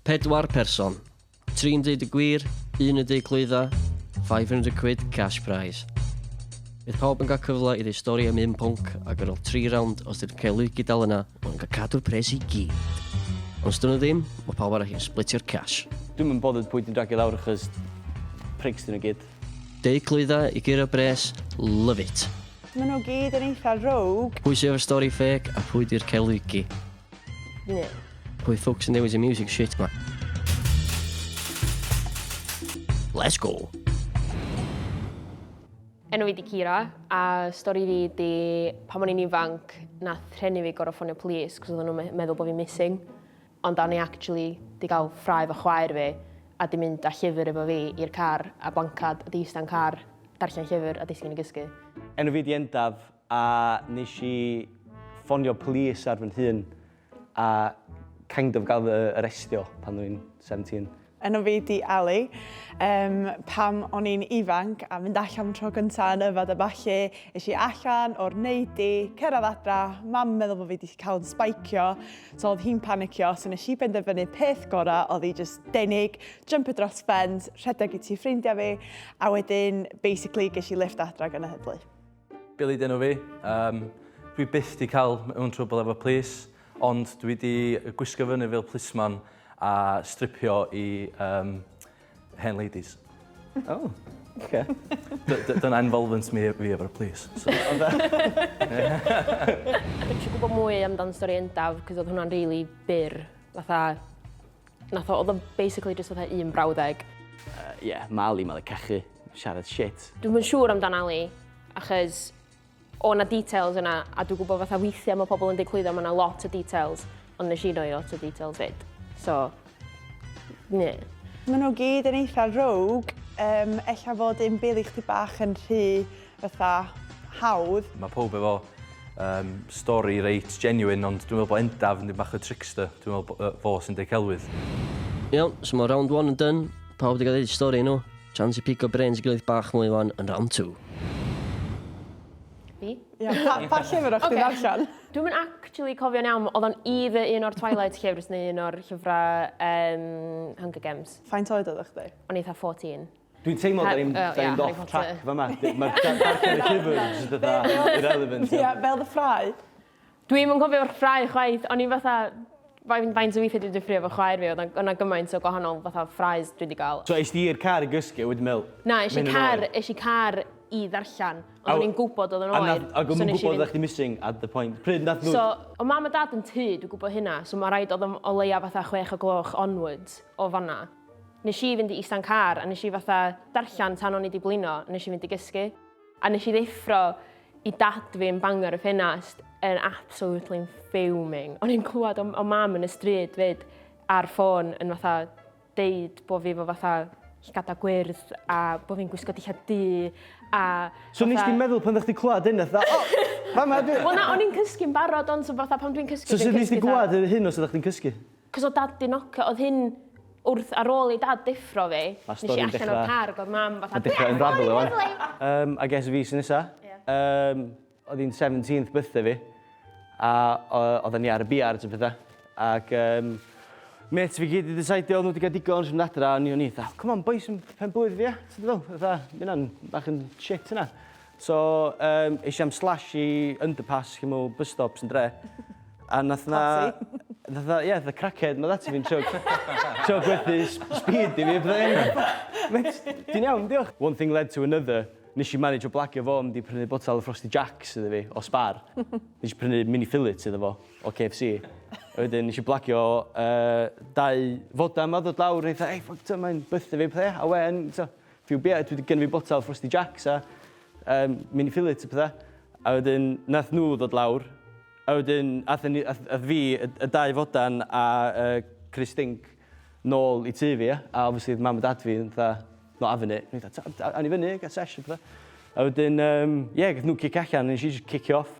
Pedwar person. Tri'n deud y gwir, un yn deud clwydda, 500 quid cash prize. Bydd pawb yn cael cyfle i ddeu stori am un pwnc ac ar ôl tri rawnd, os dyn cael Luigi dal yna, mae'n cael cadw'r pres i gyd. Ond os dyn nhw ddim, mae pawb arall yn splitio'r cash. Dwi'm yn bothered pwy ti'n dragio lawr achos prigs dyn nhw gyd. Deu clwydda i guro bres, love it! Maen nhw gyd yn eitha rogue. Pwy sydd efo'r stori ffêc a phwy di'r cael Luigi? Ie. Pwy ffwc sy'n dewis y music shit ma? Let's go! Enw fi di Kira, a stori fi di pan o'n i'n ifanc, na threnu fi gorau ffonio polis, cos oedden nhw'n meddwl bod fi'n missing. Ond o'n i actually di gael ffrae fo chwaer fi, a di mynd â llyfr efo fi i'r car, a blancad, a di ista'n car, darllen llyfr, a disgyn i gysgu. Enw fi di Endaf, A nes i ffonio police ar fy nhŷn a kind of gael fy arestio pan o'n i'n seventeen. Enw fi 'di Ellie. Yym pan o'n i'n ifanc a mynd allan am y tro cynta yn yfed a ballu, es i allan o'r neidy, cyrraedd adra, mam yn meddwl bo' fi 'di cael yn sbaicio, so oedd hi'n panicio, so nes i benderfynu peth gora oedd i jyst denig, jympio dros ffens, rhedeg i tŷ ffrindia fi, a wedyn basically ges i lifft adra gan y heddlu. Billy dyn nhw fi. Um, dwi byth di cael mewn trwbl efo plis, ond dwi di gwisgo fyny fel plisman a stripio i um, hen ladies. Oh, okay. Dyna involvement mi, fi efo'r plis. So. Dwi'n gwybod mwy amdan stori endaf, cos oedd hwnna'n really byr. Fatha, Nath o, oedd o'n basically just fatha un brawddeg. Uh, yeah, mae Ali, mae'n cachu, siarad shit. Dwi'n mynd siŵr amdan Ali, achos o na details yna, a dwi'n gwybod fatha weithiau mae pobl yn dweud clwyddo, mae yna lot o details, ond nes i roi lot o details fyd. So, ne. Mae nhw gyd yn eitha rogue, um, ella fod un bil i chdi bach yn rhy fatha hawdd. Mae pawb efo um, stori reit genuine, ond dwi'n meddwl bod Endaf yn dyn bach o trickster. Dwi'n meddwl bod fo sy'n dweud celwydd. Iawn, so mae round 1 yn dyn. Pawb wedi cael ei stori nhw. Chance i pico brains i gilydd bach mwy fan yn round 2. Fi? Ia, pa, pa llyfr o'ch okay. ti'n darllen? Dwi'n mynd actually cofio'n iawn, oedd o'n i fy un o'r Twilight llyfrs neu un o'r llyfrau um, Hunger Games. Faint oed oedd o'ch di? O'n eitha 14. Dwi'n teimlo da ni'n da ni'n off track fa ma. Mae'r darllen y llyfr jyst fatha irrelevant. Ie, fel dy ffrae. Dwi'm yn cofio'r ffrae chwaith, o'n i fatha fain- faint o withie dwi 'di ffrio efo chwaer fi odd o'n o' 'na gymaint o gwahanol fatha ffraes dwi 'di ga'l. So es di i'r car i gysgu a wedyn me'wl... Na esh i car esh i car i ddarllan ond o'n i'n gwbod odd o'n oer so nesh i fynd... Ag o'm yn gwbod oddach chdi missing at the point. Pryd nath nhw... So o' mam a dad yn tŷ dwi gwbo hynna so ma' raid odd o'm o leia fatha chwech o gloch onwards o fan 'na. Nes i fynd i ista'n car a nes i fatha darllan tan o'n i 'di blino a nes i fynd i gysgu. A nes i ddeffro i dad fi yn bangor y ffenast yn absolutely fuming. O'n i'n clwad o o mam yn y stryd 'fyd ar ffôn yn fatha deud bo' fi 'fo fatha llygada gwyrdd a bo' fi'n gwisgo dillad du a fatha... So nes di meddwl pan o'ch di clwad hyn fatha o! Fama dw i! Wel na o'n i'n cysgu'n barod ond so fatha pan dwi'n cysgu dwi'n cysgu tha... So sud nes di gwbod hyn os oddach chdi'n cysgu? Cos oedd dad 'di nocio, oedd hyn wrth ar ôl i dad deffro fi, Ma'r nes i stori'n allan o'r dechra- car ag oedd mam fatha Ma'n dechra unravelio wan. Yym I guess fi sy nesa. Ie. Yym oedd hi'n seventeenth birthday fi a o- oeddan ni ar y biards a petha ac yym mêts fi gyd 'di disaidio oedd nhw 'di cael digon isio mynd adra a o'n i o'n i fatha come on bois yn pen-blwydd fi ia? Tibod be' dwi feddwl? Fatha ma' hynna'n bach yn shit hynna. So yym es i am slash i underpass lle ma' bus stops yn dre a nath 'na... Classy. ...nath 'na ie fatha crackhead yn dod ata fi yn trio trio gwerthu s- speed i fi a petha o'n i mêt ti'n iawn diolch! One thing led to another nesh i manajo blagio fo mynd i prynu botel o Frosty Jacks iddo fi o Spar. Nesh i prynu mini fillets iddo fo o KFC a wedyn nesh i blagio yy dau fodam a dod lawr a o'n i fatha ei ffwc t'o' mae'n bytha fi a petha ia a wên t'o' Few bia dwi 'di gynno fi botel frosty jacks a yym mini fillet a petha a wedyn nath nhw ddod lawr a wedyn athon ni ath ath fi y y dau fodan a yy crys stinc nôl i tŷ fi ia a obviously odd mam a dad fi yn fatha not having it o'n i fatha t'od awn ni fyny a ga'l sesh a petha a wedyn yym ie gath nhw cicio allan a nes i jyst cicio off.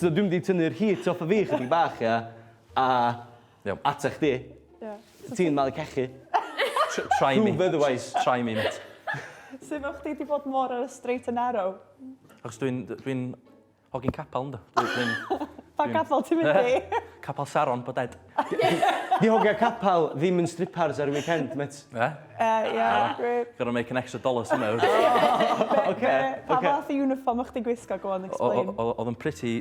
So dwi mynd i tynnu'r heat off of fi chydig bach ia a Iawn. Ata chdi. Ia. Ti'n malu cachu. Tr- try me. Prove otherwise. Try me mêt. Sut fel chdi 'di bod mor ar y straight and narrow? Achos dwi'n d- dwi'n hogyn capel yndw? Dwi dwi'n... Pa capel ti'n mynd i? Capel Saron, Boded. Di hogia capal ddim yn stripars ar y weekend, met. Be? Uh, yeah, great. Gonna make an extra dollar somehow. Oce. Pa fath o uniform o'ch di gwisgo? Go on, explain. Oedd yn pretty,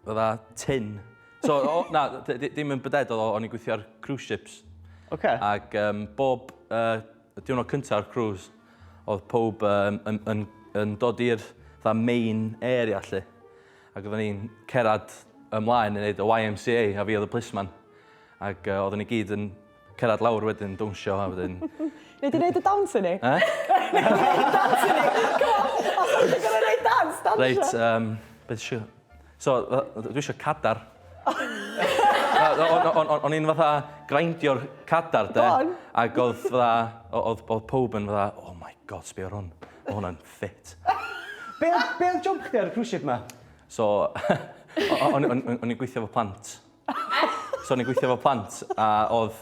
fydda, tin. So, na, dim yn byded oedd o'n i'n gweithio ar cruise ships. Oce. Ac bob diwrnod cynta'r cruise, oedd pob yn dod i'r main area, lle. Ac oedden ni'n cerad ymlaen yn neud y YMCA a fi oedd y plisman. Ac uh, oedden ni gyd yn cerad lawr wedyn, dawnsio a wedyn... Nei di neud y dawns i ni? E? Nei di neud y dawns i ni? Come on, os ti'n gwneud gorau neud dawns, dawnsio. Reit, um, beth eisiau... So, dwi eisiau cadar. O'n i'n fatha grindio'r cadar, de? Ac oedd fatha, oedd pob yn fatha, oh my god, sbio ar hwn. Mae hwnna'n fit. Be oedd, be oedd jwmp chdi ar y cruise ship ma? So, o'n i'n gweithio efo plant. So o'n i'n gweithio efo plant, a oedd,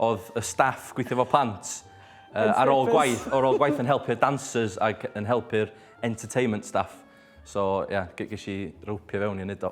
oedd y staff gweithio efo plant uh, ar ôl gwaith, ar ôl gwaith yn helpu'r dancers ac yn helpu'r entertainment staff. So, ie, yeah, ges i ropio fewn i wneud o.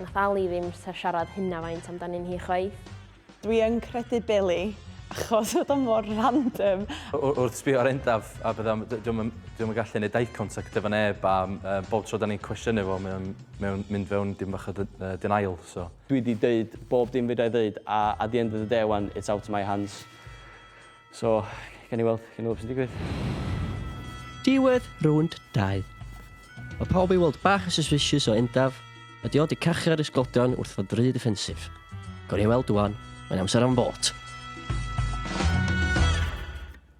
Nath Ali ddim siarad hynna faint amdanyn hi chwaith. Dwi yn credu Billy achos odd o mor random. Wrth sbio ar Endaf a petha m- d- 'di o'm yn 'di o'm yn gallu neud eye contact efo neb a m- yy bob tro 'dan ni'n cwestiynu fo mae o'n mae o'n mynd fewn dim bach o dy- yy denial so. Dwi 'di deud bob dim fedrai ddeud a at the end of the day wan it's out of my hands. So, gen i weld, gen i weld sy'n digwydd. Diwedd rownd 2. Mae pawb i weld bach yn suspicious o Endaf, a di o di cachu ar y sglodion wrth fod rhy defensif. Gawn ni weld dwan, mae'n amser am fot.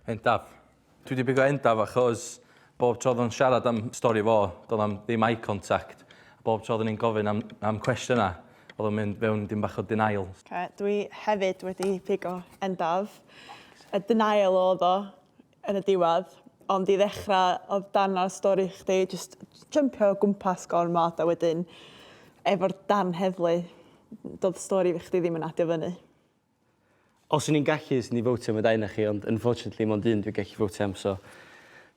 Endaf. Dwi wedi bigo endaf achos Bob tro oedd o'n siarad am stori fo, doedd am ddim eye contact. A bob tro oeddwn i'n gofyn am, am cwestiynau, oedd o'n mynd fewn dim bach o denial. Okay. Dwi hefyd wedi pigo endaf. Y denial oedd o yn y diwedd. Ond i ddechrau, oedd dan ar stori chdi, just jumpio o gwmpas gormod a wedyn efo'r darn heddlu, doedd stori fi chdi ddim yn adio fyny. Os o'n i'n gallu swn i'n fowtio am y dau o'na chi ond unfortunately mond un dwi'n gallu fowtio am so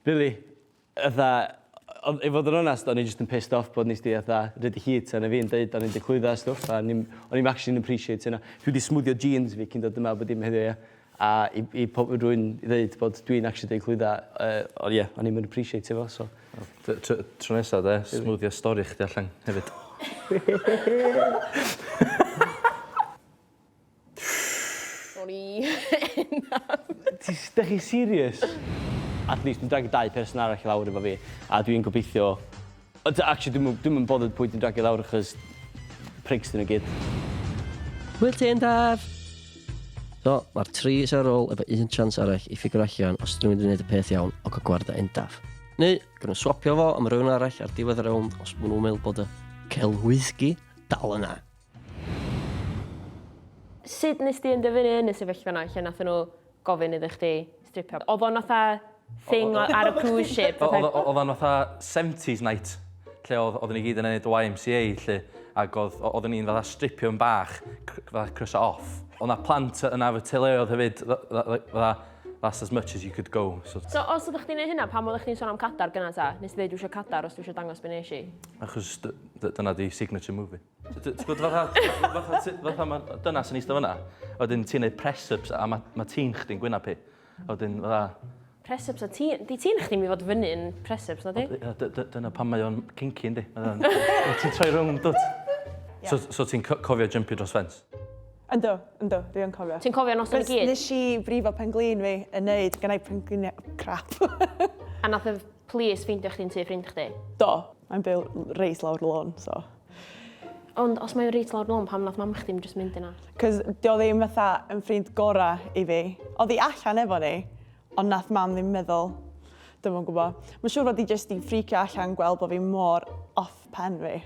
rili fatha o- i fod yn onast o'n i jyst yn pissed off bod nesdi fatha rhoid y heat arno fi yn deud o'n i'n dy clwydda a stwff a o'n i'm o'n i'm actually'n appreciate hynna. Dwi 'di smwddio jeans fi cyn dod yma bob dim heddiw ia? A i i po- i rywun i ddeud bod dwi'n actually deud clwydda yy o ie o'n i'm yn appreciatio fo so Wel t- t- tro nesa 'de smwddio stori chdi allan hefyd. O'n i enough. Ti s- dych chi serious? At least dwi'n dragio dau person arall i lawr efo fi a dwi'n gobeithio Ond ta- actually dwi'm yn dwi'm yn bothered pwy dwi'n dragio lawr achos prigs 'dyn nhw gyd. Hwyl ti Endaf! So, mae'r tri sy ar ôl efo un chance arall i ffigro allan os 'dyn nhw'n mynd i wneud y peth iawn o cael gwrdd â Endaf. Neu, gawn nhw swapio fo am rywun arall ar diwedd y rownd os maen nhw'n meddwl bod y celwyddgi dal yna. Sut nes di enderfynu yn y sefyllfa 'na lle nathon nhw gofyn iddo chdi stripio? Odd o'n fatha thing o- ar y cruise ship fatha... Odd o- odd o'n fatha seventies night lle odd oddon ni gyd yn neud YMCA 'lly ag odd o- oddon ni'n fatha stripio yn bach cr- fatha croeso off. Odd 'na plant yy yna efo teuluoedd hefyd f- f- f- like fatha that's as much as you could go so... So os oddach chdi'n neud hynna pam oddach chdi'n sôn am cadar gynna ta? Nes di ddeud dwi isio cadar os dwi isio dangos be' nesh i? Achos dy- dy- dyna 'di signature move fi. Ti'n gwybod fatha, fatha, ti- fatha mae dynas yn eistedd fyna, a wedyn ti'n neud press-ups a mae ma tîn chdi'n gwynab hi. A wedyn fatha, Press-ups a ti... Di ti'n chdi mi fod fyny yn press-ups, na di? yy, dy- dy- dyna pan mae o'n cinky yndi. Mae o'n- Wyt ti'n troi rownd dwt. So, so ti'n co- cofio jumpio dros ffens? Ynddo, ynddo, dwi yn cofio. Ti'n cofio noson i Cos gyd? nes i brifo penglin fi yn neud gennau pengliniau crap. A nath y police ffeindio chdi'n tu ffrind chdi? Do, mae'n byw reis lawr y lôn, so. Ond os mae'n reit lawr lôn pam nath mam chdi ddim jyst mynd yna? Cos dio ddim fatha yn ffrind gora i fi. Odd i allan efo ni ond nath mam ddim meddwl. Dwi'm yn gwbo. Mae'n siŵr fod i jyst di ffricio allan gweld bo fi mor off pen fi.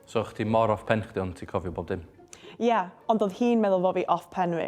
So o'ch chdi mor off pen chdi ond ti cofio bob dim? Ia, ond odd hi'n meddwl fo fi off pen fi.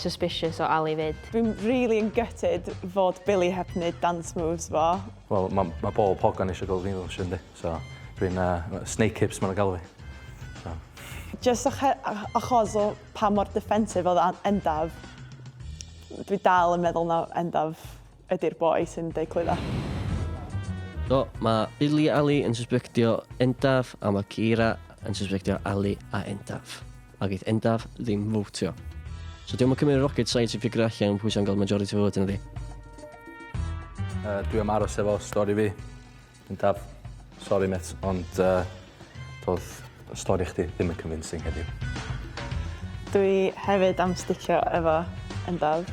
suspicious o Ali 'fyd. Fi'n rili yn gutted fod Billy heb neud dance moves fo. Wel ma' ma' bob hogan isio gweld fi'n ddawnsio yndi? So dwi'n yy snake hips ma' nw'n galw fi. So. Jyst acho- a- achos o pa mor defensive odd An- Endaf dwi dal yn meddwl ma' Endaf ydy'r boi sy'n deud clwydda. Do, mae Billy Ali yn susbectio Endaf a mae Keira yn susbectio Ali a Endaf. A geith Endaf ddim fwtio. So diolch yn cymryd rocket science i ffigur allan pwy sy'n gael majority vote yn ydi. Uh, dwi am aros efo stori fi. Yn daf. Sori met ond yy do'dd y stori chdi ddim yn convincing heddiw. Dwi hefyd am sticio efo yn daf.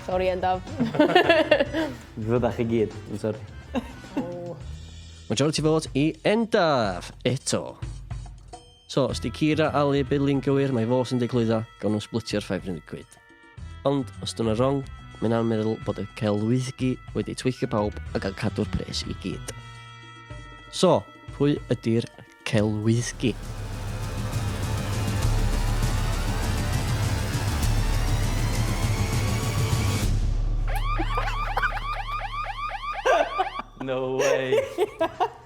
Sori yn daf. Fyddach chi gyd yn sori. O! Majority vote i yn daf eto. So os 'di Kira, Ali, Billy'n gywir mae fo sy'n declwyddo, gawn nhw sblitio'r five hundred quid. Ond os dyna wrong, mae hynna'n meddwl bod y celwyddgi wedi tweithio pawb a gael cadw'r pres i gyd. So, pwy ydy'r celwyddgi? No way!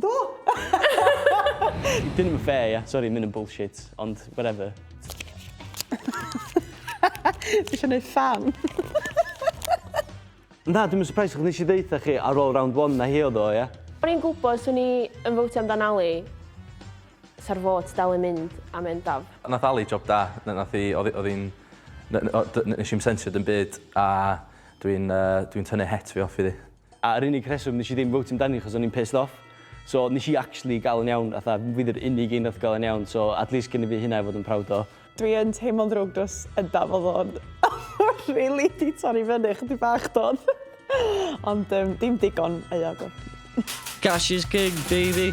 Do! Dyn nhw'm yn fair, ia. Sori, ma' hyn yn bullshit, ond whatever. Ti isio neud fun? Na, dwi'm yn surprised achos nes i ddeutha chi ar ôl round one na hi oedd o, ia? O'n i'n gwybod 'swn i yn fowtio amdan Ali. 'Sa'r vote dal yn mynd a mynd af. Nath Ali job da. Na- nath 'i... O'dd 'i... O'dd 'i'n... N- n- o- d- nesh i'm sensio dim byd a dwi'n yy dwi'n tynnu het fi off iddi. A yr unig rheswm nes i ddim fowtio amdani achos o'n i'n pissed off. So nes i actually ga'l yn iawn fatha fi 'di'r unig un nath ga'l yn iawn so at least gynna fi hynna i fod yn proud o. Dwi yn teimlo'n ddrwg dros Undaf odd o'n rili 'di torri fyny chydig bach dodd? Ond yym dim digon euog o. Cash is king baby.